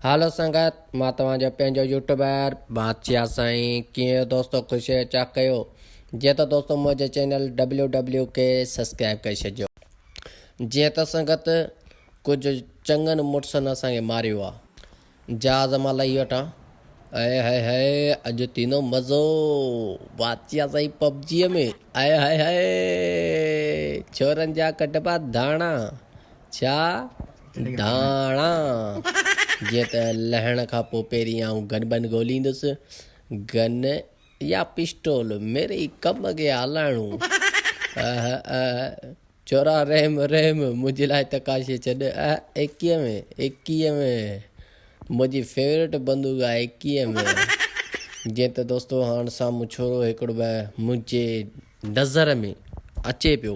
هالو سنگت مان توهان جو پنهنجو يوٽيوبر بادشاهه سائين ڪيئن اهو دوستو خوش اهي چاڪ ڪيو جي ته دوستو منهنجي چينل ڊبليو ڊبليو کي سبسڪرائب ڪري ڇڏجو جي ته سنگت ڪجهه چڱن مڙسن اسان کي ماريو آ جهاز مان لهي وٺان اي هائي هائي اڄ تينو مزو بادشاهه سائين پبجي ۾ اي هائي هائي ڇورن جا ڪڍبا ڌاڻا ڇا ڌاڻا، جيئن ته لهڻ کان پوء پهرين آئون گن بن ڳوليندس. گن يا پسٽول ميرئي ڪم کي هلائڻو. اهه اهه چورا رحم رحم منهنجي لاء تڪاشي ڇڏ. اهه ايڪيهه م ايڪيهه م منهنجي فيورٽ بندوق آهي ايڪيهه م. جيئن ته دوستو هاڻ سامهون ڇورو هڪڙو به منهنجي نظر ۾ اچي پيو.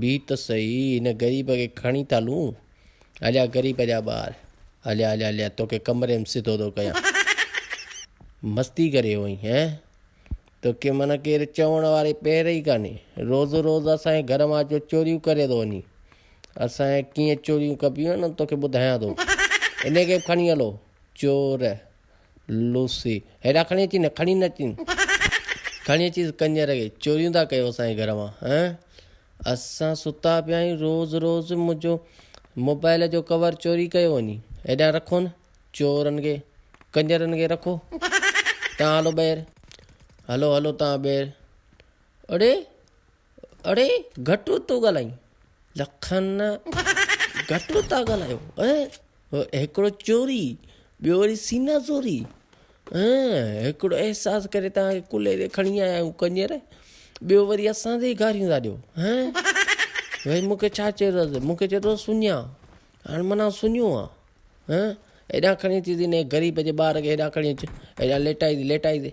بيھ ته سهي هن غريب کي کڻي ٿا لون هليا غريب جا ٻار هليا هليا هليا توکي ڪمري ۾ سڌو ٿو ڪيان مستي ڪري هئين هين توکي من ڪير چوڻ واري پير ئي ڪاني روز روز اسان جي گهر مان اچو چوريون ڪري ٿو وڃي اسان جي ڪيئن چوريون ڪبيون آهن توکي ٻڌايان ٿو انهي کي به کڻي هلو چور لوسي، هيڏا کڻي اچين نه کڻي نه اچين کڻي اچيس ڪنجر کي چوريون ٿا ڪيو اسان جي گهر مان ها اسان ستا پيا آهيون روز روز منهنجو موبائل جو ڪور چوري ڪيو وڃي هيڏا رکو نه چورن کي ڪنجرن کي رکو تان هلو ٻير هلو هلو تان ٻير اڙي اڙي گهٽ ٿو ڳالهائين لکن گهٽ ٿا ڳالهايو هڪڙو چوري ٻيو وري سينا زوري هڪڙو احساس ڪري تان ڪلهي تي کڻي آيا آهيون ڪنير ٻيو وري اسان تي گاريون ٿا ڏيو ويس مونکي ڇا چيو مونکي چيو اٿس سڃا هاڻي منا سڃو آهي هيڏانهن کڻي اچي تي غريب جي ٻار کي هيڏانهن کڻي اچ هيڏانهن ليٽائي تي ليٽائي تي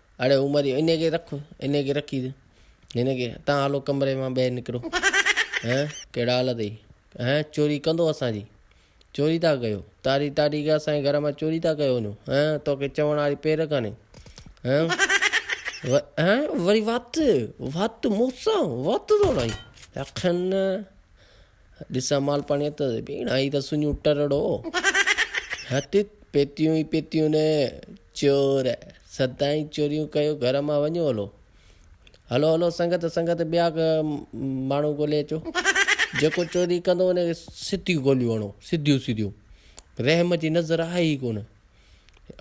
اڙي عمر جي انهي کي رک انهي کي رکي هن کي تان هلو ڪمري مان ٻهر نڪرو هين ڪهڙا حال اٿئي هين چوري ڪندو اسان جي چوري ٿا ڪيو تاري تاري کي اسان جي گهر مان چوري ٿا ڪيو وڃو هين توکي چوڻ واري پير ڪانهي هين هين وري وات وات مون سان وات ٿو لائين اکن ڏسان مال پاڻيء ته ڀيڻ آهي ته سڃو ٽرڙو. هٽ پيتيون ئي پيتيون نه چور سدائين چوريون ڪيو گهر مان وڃو هلو. هلو هلو سنگت سنگت ٻيا ماڻهو ڳولي اچو. جيڪو چوري ڪندو ان کي سڌيون گوليون هڻو سڌيون سڌيون رحم جي نظر آهي ئي ڪونه.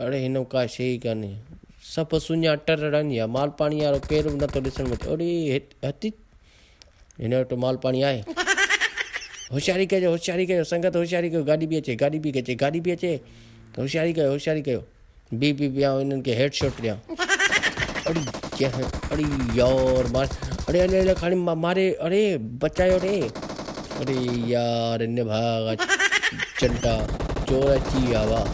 اڙي هن وٽ ڪا شيء ئي ڪانهي سڀ سڃا ٽرڙا آهن يا مال پاڻيء وارو ڪير به نٿو ڏسڻ ۾ اچي اڙي هٽ. هن وٽ مال پاڻي آهي هوشياري ڪجو هوشياري ڪجو سنگت هوشياري ڪجو گاڏي پي اچي گاڏي پي اچي گاڏي پي اچي هوشياري ڪجو هوشياري ڪجو بي بي بيان انهن کي هيڊ شاٽ ڏيان اڙي جنهن اڙي يار مار اڙي اڙي اڙي کاڻي ماري اڙي بچايو اڙي اڙي يار ان ڀاڳ چنٽا چور اچي ويا واهه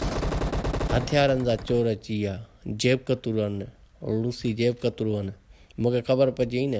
هٿيارن سان چور اچي ويا جيب ڪتورن ان لوسي جيب ڪترو ان. مون کي خبر پئجي نه.